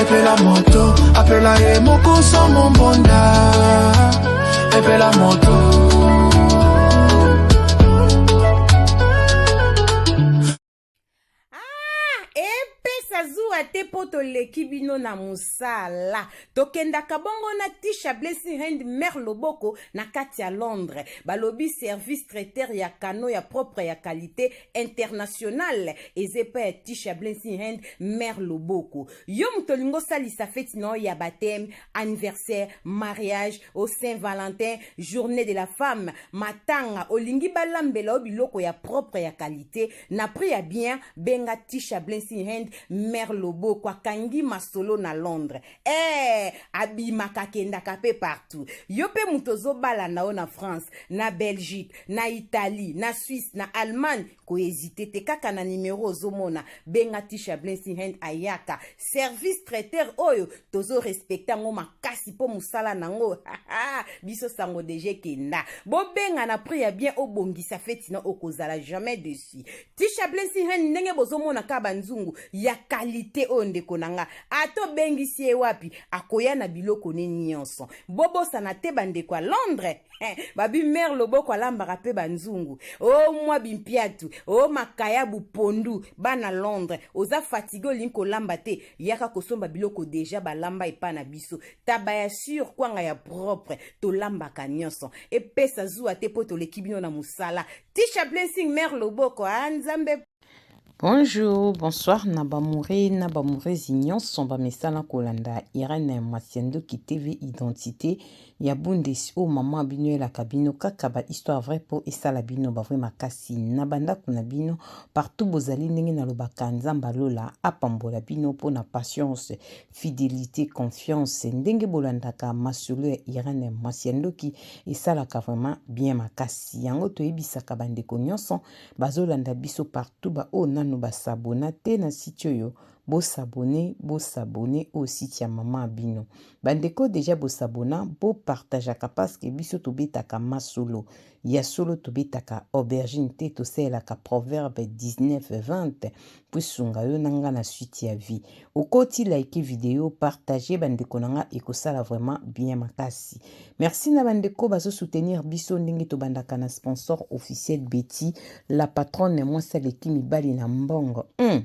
Epela moto, apela ye moko sans mon bonda. Epela moto. te mpo toleki bino na mosala tokendaka bongo na tisha blessing hand mare loboko na kati ya londres balobi service traiteur ya kano ya propre ya kalite international eza epai ya tisha blessing hand mare loboko yo moto olingi osalisa feti na yo ya bateme anniversaire mariage au saint valentin journée de la femme matanga olingi balambela yo biloko ya propre ya kalite na prix ya bien benga tisha blessing hand mare loboko akangi masolo na londres Eh, abimaka akendaka pe partout yo pe moto ozobala na yo na france na belgique na italie na suisse na allemagne kohezite te kaka na nimero ozomona benga tisha blensinghand ayaka service traiteur oyo tozorespekte yango makasi mpo mosala na yango biso sango deja ekenda bobenga na prix ya bien obongisa feti na okozala jamais dessus Tisha Blessing Hen ndenge bozomona ka banzungu ya kalite oyo ndeko na nga ata obengisi ye wapi akoya na biloko ne nyonso bobosana te bandeko ya Londres eh, babi mare loboko alambaka mpe banzungu o oh, mwa bimpiatu o oh, makayabu pondu bana Londres oza fatigue olingi kolamba te yaka kosomba biloko deja balamba epa na biso taba ya sur kwanga ya propre tolambaka nyonso epesa zuwa te mpo toleki bino na mosala Tisha Blessing Mère Loboko ah Nzambe Bonjour, bonsoir na bamoure na bamourezi nyonso bamesana kolanda Irène Masiandoki TV Identité ya Bundes oyo mama bino elaka bino kaka ba histoire vrai mpo esala bino ba vrai makasi na bandako na bino partout bozali ndenge nalobaka Nzambe alola apambola bino mpo na patience fidelite confiance ndenge bolandaka masolo ya irene mwasi ya ndoki esalaka vraiment bien makasi yango toyebisaka bandeko nyonso bazolanda biso partout baoyo nanu basabona te na site oyo bosabone bosabone oyo site ya mama bino bandeko deja bosabona bopartageaka parceke biso tobetaka masolo Ya solo tobetaka aubergine te tosalelaka proverbe 19 20 mpo esunga yo na nga na suite ya vie. Okoti like video, partager bandeko na nga ekosala vraiment bien makasi. Merci na bandeko bazo soutenir biso ndenge tobandaka na sponsor officiel Betty la patronne mwasi aleki mibali na mbongo. Hum.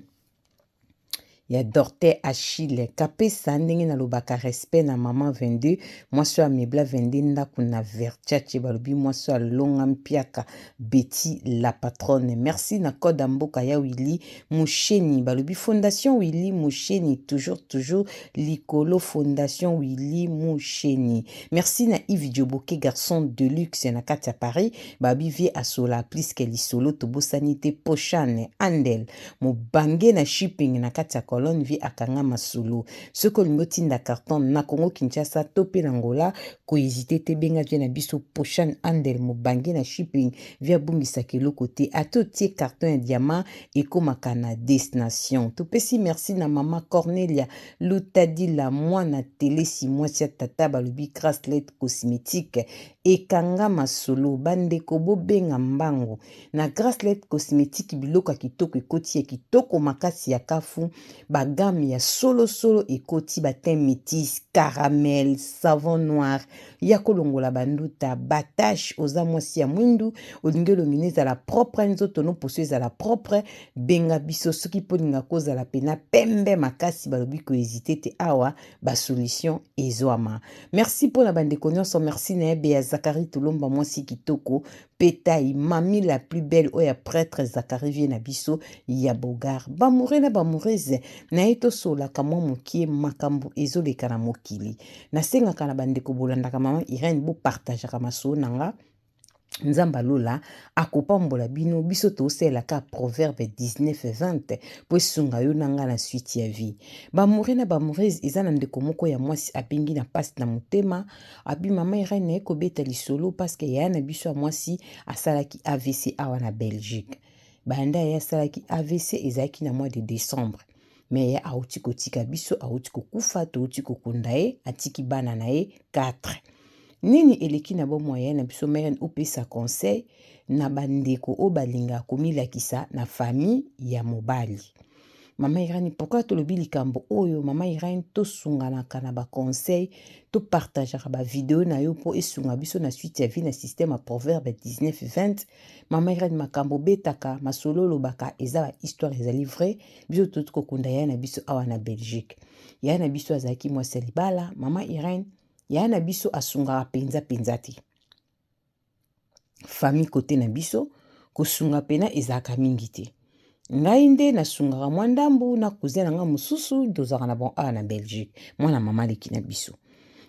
ya Dorte Achille Kapesa ndenge nalobaka respect na maman 22 mwasi oyo amebla 22 ndako na Versace balobi mwasi oyo alonga mpiaka Betty la patronne merci na code ya mboka ya Willy Musheni balobi fondation Willy Musheni toujours toujours likolo fondation Willy Musheni merci na Yves Dioboke garçon de luxe na kati ya Paris babi vie asola plus que lisolo tobosani te Pochane Andel Mobange na shipping na kati ya colonne vie akanga masolo. Soki olingi otinda carton na Congo Kinshasa to pe na Angola, ko hesiter te benga vieux na biso Poshan Handel mobange na shipping vie abungisaka eloko te ata otie carton ya diamant ekomaka na destination. Topesi merci na mama Cornelia Lutadila muana Telesi muasi ya tata balobi Grace Lait Cosmetique ekanga masolo. Ba ndeko bobenga mbangu. Na Gracelet Cosmetique biloko ya kitoko ekoti ya kitoko makasi ya kafu ba gamme ya solo solo ekoti ba teint metis, caramel, savon noir yako longola ba nduta, ba tache oza mwasi ya mwindu olingi elongi no ezala propre nzoto no poso ezala propre benga biso soki pe olinga ko zala pena pembe makasi balobi ko hesite te awa ba solution ezwama. Merci pona ba ndeko nionso merci na ye Bea Zacharie Tulomba mwasi kitoko Petai, Mamie la plus belle oyo ya pretre Zacharie vieux na biso ya beaugard. B'amoureux na b'amoureuse naye tosololaka mwa mokie makambo ezoleka na mokili. Nasengaka na bandeko bolandaka maman Irène bo partageaka masolo na nga. Nzambe ya lola akopambola bino, biso tosalela kaka Proverbe 19:20 po esunga yo na nga na suite ya vie. B'amoureux na b'amoureuse eza na ndeko moko ya mwasi abengi na pasi na motema, Abi mama Irène naye kobeta lisolo parce que yaya na biso ya mwasi asalaki AVC awa na Belgique. Banda yaya asalaki AVC ezalaki na mois de décembre. Mais yaya auti kotika biso, auti kokufa, touti kokunda ye, atiki bana na ye 4. Nini eleki na bomo ya yaya na biso Meren opesa conseil na bandeko oyo balingaka komilakisa na famille ya mobali. Mama Irene, pourquoi tolobi likambo oyo? Mama Irene, tosunganaka na ba conseils, topartageaka ba video na yo mpo esunga biso na suite ya vie na système ya proverbe 19-20. Mama Irene, makambo obetaka, masolo olobaka eza ba histoire ezali vrai. Biso totoki kokunda yaya na biso awa na Belgique. Yaya na biso azalaki mwasi ya libala. Mama Irene, yaya na biso asungaka penza penza te. famille kote na biso kosunga pena ezalaka mingi te ngai nde nasungaka mwa ndambu na cousin na ngai mosusu tozalaka na bon awa na belgique mwana mama aleki na biso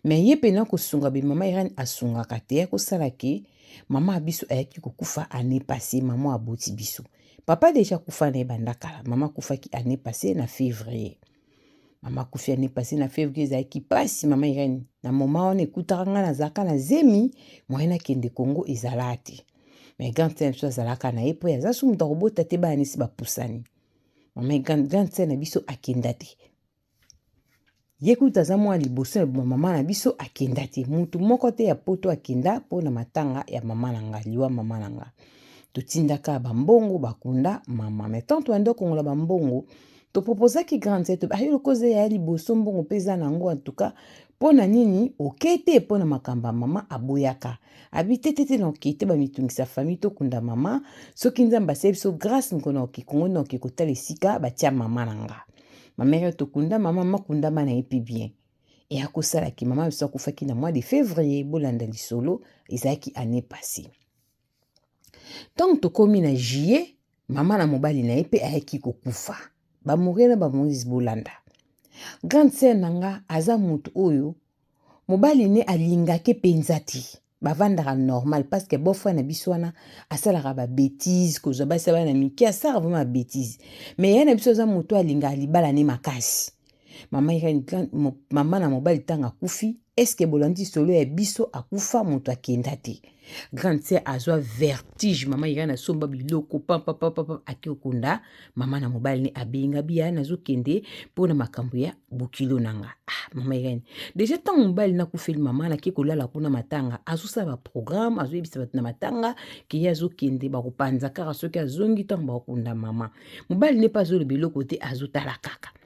me ye pena kosunga be mama irene asungaka te akosala ke mama ya biso ayaki kokufa ane passe mama aboti biso papa deja akufa na ye banda kala mama akufaki ane passe na février mama akufi ane pase na fevrier ezalaki mpasi mama irene na moma wana ekutaka ngai nazalaka na zemi moye nakende kongo ezalaa te mai grande sere biso azalaka na ye mpo aza so moto akobota te bana nesi bapusani mama grande sere na biso akenda te ye kuta aza mwana liboso ya mama na biso akenda te motu moko te ya poto akenda mpo na matanga ya mama na ngai liwa mama na ngai totindaka bambongo bakunda mama mai tanto bande okongola bambongo To proposaki grande sœur tobe ayo lokoza ya liboso mbongo mpe eza na yango en tout cas mpo na nini okei te mpo na makambo ya mama aboyaka abi te te te na okei te bamitungisa famille tokunda mama soki nzambe asie biso grâce mokona oke kongo na oke kotala esika batia mama na nga mamere tokunda mama makunda bana ye mpe bien e akosalaki mama biso akufaki na mois de février bolanda lisolo ezalaki année passée Ntango tokomi na juillet, mama na mobali na ye mpe ayaki kokufa. Bamorie na bamoise bolanda. Grande sœur na nga aza moto oyo mobali ne alingaki mpenza te bavandaka normal parce que beau-frère na biso wana asalaka ba betises kozwa basi ya bana mike asalaka vraiment ba betises mais yaya na biso aza moto alingaka libala ne makasi Mama Irene Grant, mama na mobali ntango akufi, eske bolandi solo ya biso akufa moto akenda te. Grande sœur azwa vertige, mama Irene asomba biloko papa papa papa ake okunda mama na mobali ne abenga biya nazokende mpo na makambo ya bokilo na nga. Ah, mama Irene deja ntango mobali nakufeli mama nake kolala kuna matanga, azosala baprogramme azoyebisa bato na matanga keye azokende bakopanza kaka soki azongi ntango bakokunda mama. Mobali ne mpe azoloba eloko te azotala kaka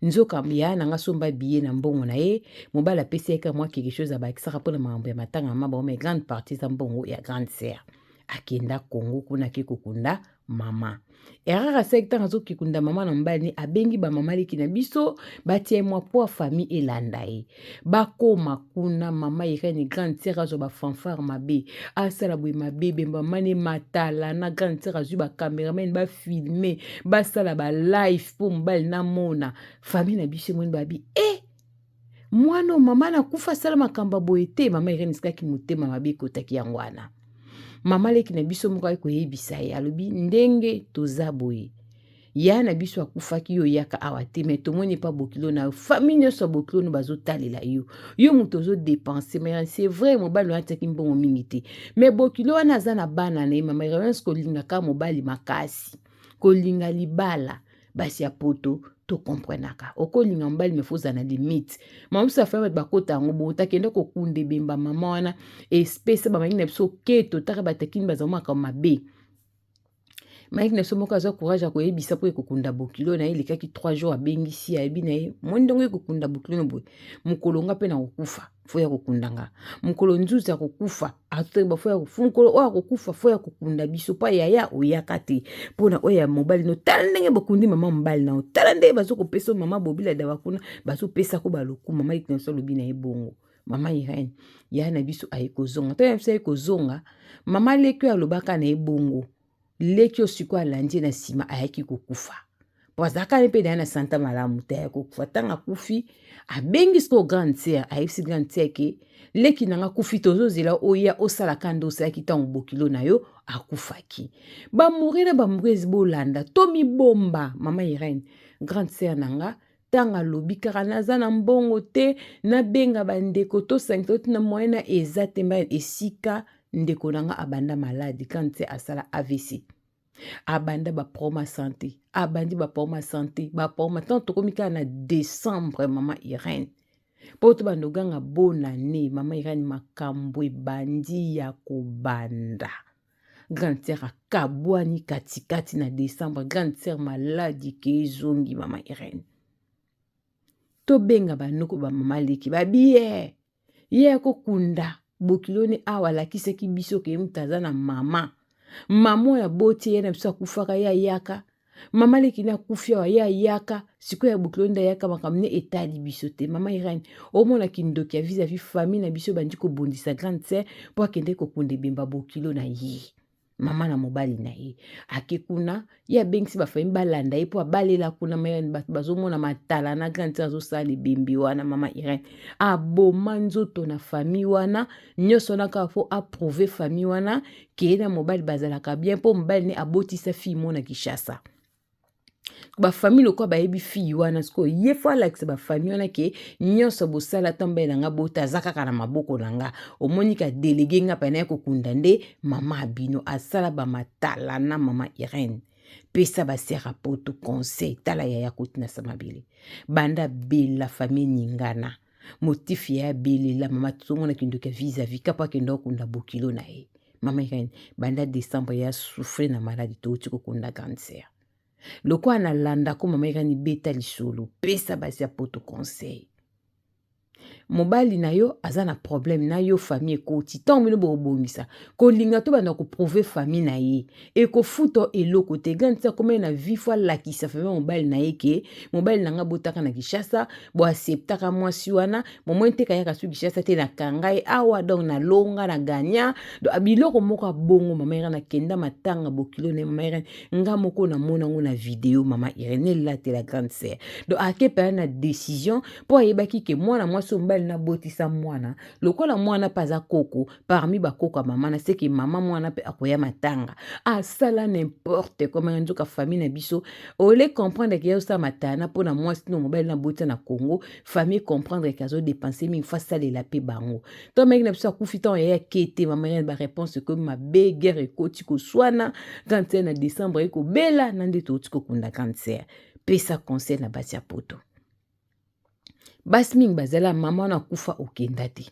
nzoka yaya na nga asomba biye na mbongo na ye mobali apesi yaka mwa quelque chose abakisaka mpo na makambo ya matanga ma bango mai grande partie eza mbongo ya grande sere akenda kongo kuna ake kokunda mama erreur asalaki ntango azokikunda mama na mobali ne abengi bamama leki na biso batia ye mwa mpo famille elanda ye bakoma kuna mama irene grande sere azwa bafanfare mabe asala boye mabe bembamane matala na grande sere azwi bacameraman bafilme basala balife mpo mobali namona famille na biso emoni babi e eh! mwana oyo mama nakufa asala makambo ya boye te mama irene esikaki motema mabe ekotaki yango wana mama leki na biso moko ayaki koyebisa ye alobi ndenge toza boye yaya na biso akufaki yo oyaka awa te me tomoni epa bokilo na yo famille nyonso ya bokilo no bazotalela yo yo moto ozodepense ma c'est vrai mobali wana atiaki mbongo mingi te me bokilo wana aza na bana na ye mama irlance kolingaka mobali makasi kolinga libala basi ya poto tokomprenaka okolinga mobali mefa oza na limite mamusu afai bato bakota yango bongo takende kokunda ebemba mama wana espesa bamangi na biso keto taka batakini bazango makambo mabe Mike na biso moko aza courage ya koyebisa mpo ekokunda bokilo na ye elekaki 3 jours abengisi ayebi na ye moi ndenge ekokunda bokilo na boye mokolo nga mpe nakokufa fo ya kokunda nga mokolo nzuzi akokufa atoyeba fo ya mokolo oyo akokufa fo ya kokunda biso mpo yaya oyaka te mpo na oyo ya mobali no tala ndenge bokundi mama mobali na yo tala ndenge bazokopesa mama bobila dawa kuna bazopesa ko balokumu mama ike na biso alobi na ye bongo mama irene yaya na biso aye kozonga ntango ya biso aye kozonga mama leki oyo alobaka na ye bongo leki oyo sikoyo alandi ye na nsima ayaki kokufa po azalaka ne mpe na ye na santa malamu te ayaki kokufa ntango akufi abengi sikoyo grande sere ayebisi grande sere ke leki na nga akufi tozozela oya osala ka nde osalaki ntango bokilo na yo akufaki bamuri na bamuri bolanda tomibomba mama irene grande sere na nga ntango alobi kaka naza na mbongo te nabenga bandeko tosangisa oti na moyena eza te mba esika ndeko na nga abanda maladi kante asala avc abanda baproma sante abandi baproma sante baproma ntango tokomi kaka na décembre mama irene mpo tobanda oganga bonane mama irene makambo ebandi ya kobanda grande sœur akabwani katikati na décembre grande sœur maladi ke ezongi mama irene tobenga banoko bamama leki babiye ye akokunda bokilo ne awa alakisaki biso ke mutu aza na mama mama oyo aboti ye na biso akufaka ye ayaka mama leki na kufi awa ye ayaka sikoyo ya bokilo nde ayaka makambo ne etali biso te mama irene omona kindoki ya vis-à-vis famille na biso ebandi kobundisa grande sœur mpo akende kokunda ebemba bokilo na ye mama na mobali na ye ake kuna ye abengisi bafamille balanda ye mpo abalela kuna mayani bato bazomona matala na grande sœur azosala ebembe wana mama irene aboma nzoto na famille wana nyonso wana kaka mpo aprouve famille wana keye na mobali bazalaka bien mpo mobali ne abotisa fille mo na kinshasa bafamille lokola bayebi fille wana sikoyo ye fo alakisa bafamille wana ke nyonso bosala ata mobali na nga bota aza kaka na maboko na nga omoni ka delege nga mpe naye kokunda nde mama abino asala bamatala na mama irene pesa basera poto conseil tala yaya kotinasa mabele banda bela famille ningana motif ya abelela mama tozomona kindoki ya vis-à-vis kapa akenda okunda bokilo na ye mama ekani banda décembre ya souffre na maladi touti kokunda grande sœur lokola nalanda ko mama ekani beta lisolo pesa basi ya poto conseil mobali na yo aza na problème na yo famille ekoti ntango bino bokobongisa kolinga to banda koprouve famille na ye ekofuta eloko te gani ti akomaki na vie fo alakisa fami mobali na ye ke mobali na ngai botaka na kishasa boaseptaka mwasi wana momoi nteka yaka su kishasa te nakanga ye awa donc nalonga na gagna ah, biloko moko abongo mama irene akenda matanga bokilo na ye mama irene nga moko namona yango na video mama irene elatela grande sere donc akepela na decision mpo ayebaki ke mwana mwasi oyo mobali nabotisa mwana lokola mwana mpe aza koko parmi bakoko ya mama naseke mama mwana mpe akoya matanga asala nimporte komanga nzoka famille na biso ole comprendre ke yosala matana mpo na mwasi no mobali na botisa na congo famille comprendre ke azodepense mingi fo asalela mpe bango to meki na biso akufi ntango yaya ke te mamariane bareponse ekomi mabe guerre ekoti koswana kanser na décembre ekobela na nde touti kokunda kanser pesa conseil na basi ya poto basi mingi bazala mama wana akufa okenda te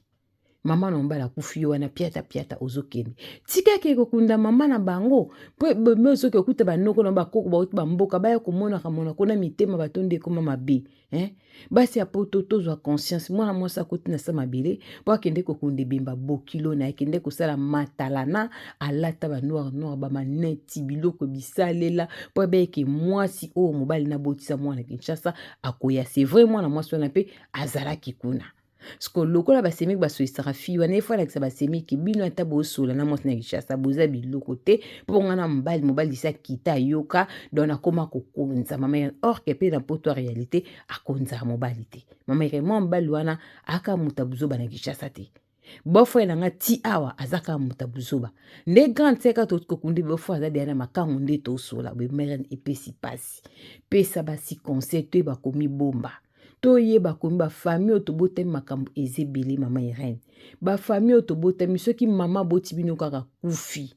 mama na mobali akufi yo wana piata piata ozokende tika ke kokunda mama na bango mpo ebembe ozoki okuta banoko na bakoko bauti bamboka baya komonaka monako na mitema bato nde ekoma mabe eh? basi ya poto tozwa conscience mwana mwasi akoti na sa mabele mpo akende kokunda ebemba bokilo na akende kosala matalana alata banoir noir bamaneti biloko bisalela mpo abeyeke mwasi oyo mobali nabotisa mwana kinshasa akoya c'est vrai mwana mwasi wana mpe azalaki kuna siko lokola basemiki basolisaka fille wana efo alakisa basemiki bino ata bosola na mwasi na kinshasa boza biloko te mpo nga na mobali mobali sa kita ayoka don akoma kokonza mama irene orke mpe na poto ya réalité akonzaka mobali te mama irene mwa mobali wana aka moto abuzoba na kinshasa te Beau frère na nga ti awa aza kaka moto ya buzoba. Nde grande sœur kaka tokoki kokundi beau frère aza deya na makango nde tosola boye mrn epesi pasi. Pesa basi conseil toyeba komibomba. Toyeba komi ba famille oyo tobotami makambo eza ebele mama Irène. Ba famille oyo tobotami soki mama aboti bino kaka akufi.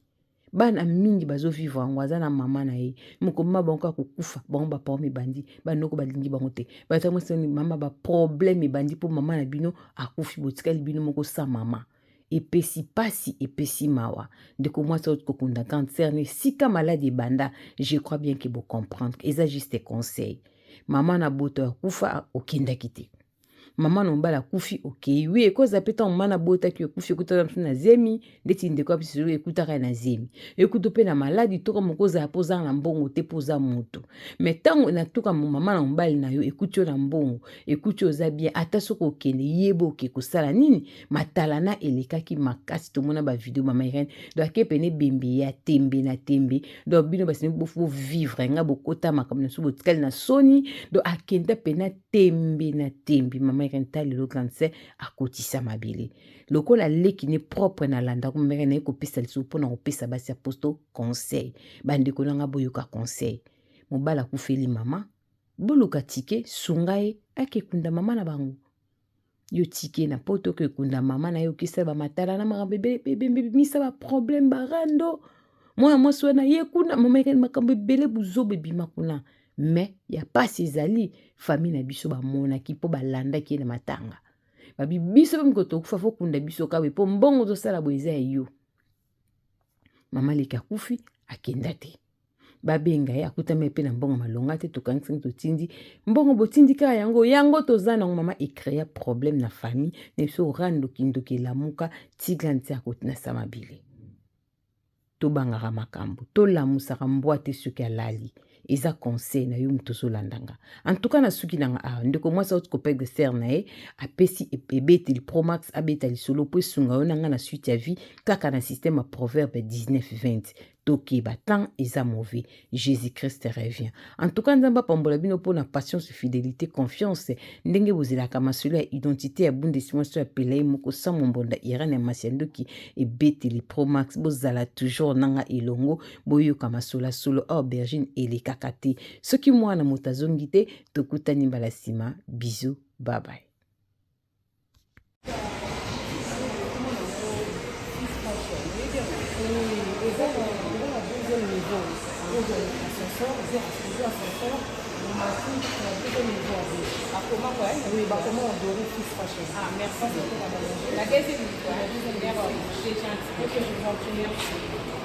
bana mingi bazo vivre yango aza na mama na ye mokoma mama bango kaka kokufa bango baproblème ebandi banoko balingi bango te batango soni mama baproblème ebandi mpo mama na bino akufi botikali bino moko sa mama epesi pasi epesi mawa ndeko mwasi auti kokunda cancer na esika maladi ebanda je crois bien ke bocomprendre eza juste conseil mama na boto ya kufa okendaki te mama na mobali akufi okei wi ekoza mpe ntango mama nabotaki yo ekufi ekutaka biso na zemi ndeti ndeko ya biso ekutaka ye na zemi ekutu mpe na maladi toka moko ozala mpo ozala na mbongo te mpo oza moto me ntango natuka mama na mobali na yo ekuti yo na mbongo ekuti oza bien ata soki okende yeba oke kosala nini matalana elekaki makasi tomona bavideo mama irene donc ake pene ebembe ya tembe na tembe donc bino basemi bovivre nga bokota makambo na biso botikali na soni donc akenda pene tembe na tembe mama irene ta lelo grande sœur akotisa mabele lokola leki ne propre na landa ko mama irene kopesa lisusu mpo na kopesa basi ya posto conseil bandeko na ngai boyoka conseil mobali akufeli mama boluka tike sunga ye akekunda mama na bango yo tike na poto ke kunda mama na yo kisa ba matala na makambo ebimisa ba problème ba rando mwana mwasi wana ye kuna mamekani makambo ebele buzoba ebima kuna mais ya pasi ezali famille na biso bamonaki mpo balandaki ye na matanga babi biso mpe miko tokufa fokunda biso kawe mpo mbongo tozosala boye eza ya yo mama leki akufi akenda te babenga ye akutami mpe na mbongo malonga te tokangisaki totindi mbongo botindi kaka yango yango toza nango mama ecrea problème na famille na biso ora ndokindoki elamuka tiga nti akotinasa mabele tobangaka makambo tolamusaka mbwa te soki alali eza conseil na yo moto ozolanda nga en tout cas na suki na nga awa ah, ndeko mwasi auti kopede ser na ye apesi e, ebeteli promax abeta lisolo mpo esunga yo na nga na suite ya vie kaka na système ya proverbe 1920 tokeba temps eza mauvais jésus christ revient en tout cas nzambe apambola bino mpo na patience fidélité confiance ndenge bozelaka masolo ya identité ya bundesmaso ya pelai moko samo mbonda irane ya masi ya ndoki ebeteli promax bozala toujours nanga elongo boyoka masolasolo awa aubergine elekaka te soki mwana moto azongi te tokutani mbala nsima bizu babaye Ah, merci beaucoup, madame. La deuxième, la deuxième, merci. C'est gentil. Ok, je vous en prie, merci.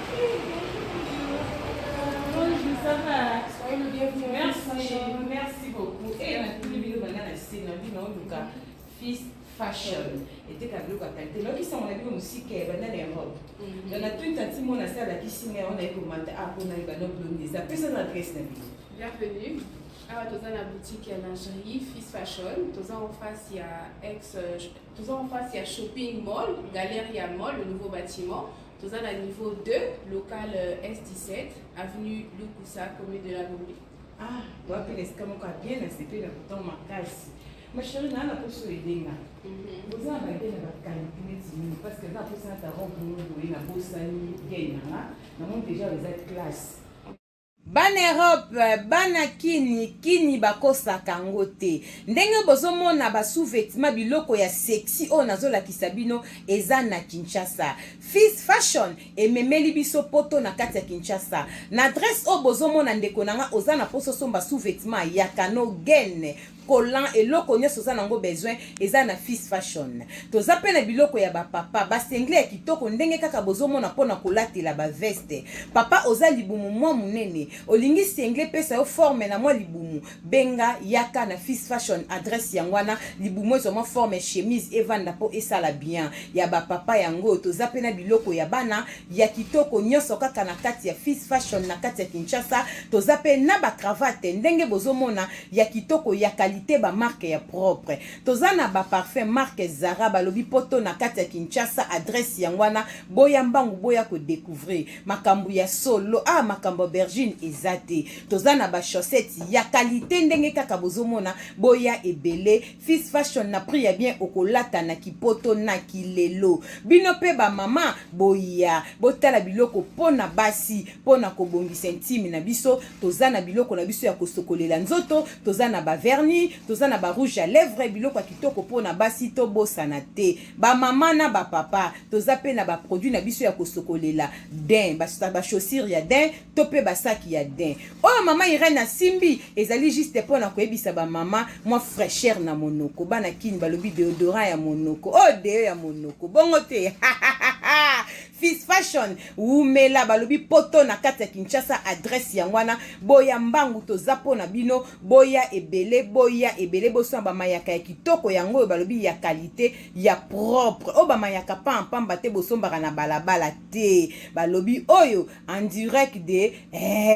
fashion eteka biloko ya kalite nayokisango na bino mosika ya banda na europe na na twit anti mona asi alakisi ngai yango naye komata apona ye bana blonde eza pesa na adresse na bino bienvenue awa toza na boutique ya lingerie fils fashion toza en face ya ex toza en face ya shopping mall galerie ya mall le nouveau bâtiment Toza na niveau 2, local euh, S17, avenue Lukusa, commune de la Gombe. Ah, wapi na esika moko ya bien nasepeli na kotan makasi. Ma chérie, naa na poso elenga. Mhm. Oza na baye na bakalite neti nini parce que naa posa na ta robe moko boye na bosani bien nanga. Na moni déjà eza classe. Bana Europe bana kin kini bakosaka ngo te ndenge bozomona ba sous vetement biloko ya sexy oyo nazolakisa bino eza na Kinshasa fils fashion ememeli biso poto na kati ya Kinshasa na adresse oyo bozomona ndeko na nga oza na poso somba sous vetement ya kano gene collant eloko nionso oza nango besoin eza na fils fashion toza pe na biloko ya ba papa ba singlet ya kitoko ndenge kaka bozo mona pona kolatela ba veste papa oza libumu mua munene olingi singlet epesa yo forme na mua libumu benga yaka na fils fashion adresse yango wana libumu ezua mua forme chemise evanda po esala bien ya ba papa yango toza pe na biloko ya bana ya kitoko nyonso kaka na kati ya Fils Fashion na kati ya Kinshasa. Toza pe na ba cravate ndenge bozomona ya kitoko ya qualité ba marque ya propre. Toza na ba parfum marque Zara balobi poto na kati ya Kinshasa adresse yango wana boya mbangu boya ko decouvrir makambu ya solo ah makambu aubergine eza te. Toza na ba chaussettes ya qualité ndenge kaka bozomona boya ebele. Fils fashion na prix ya bien okolata na kipoto na kilelo. Bino pe ba mama boya botala biloko pona basi pona kobongisa intime na biso toza na biloko na biso ya kosokolela nzoto toza na ba vernis toza na ba rouge à lèvres biloko ya kitoko pona basi tobosana te ba mama na ba papa toza pe na ba produits na biso ya kosokolela den ba chaussures ya den to mpe basaki ya din oyo mama irene asimbi ezali juste mpo na koyebisa bamama mwa fraîcheur na monoko bana kini balobi deodorant ya monoko oyo oh, deo ya monoko bongo te fis fashion wumela balobi poto na kati ya kinshasa adresse yango wana boya mbangu toza mpo na bino boya ebele boya ebele bosona bamayaka ya kitoko yango oyo balobi ya kalite ya propre oyo bamayaka pa pamba te bosombaka na balabala te balobi oyo en direct de eh.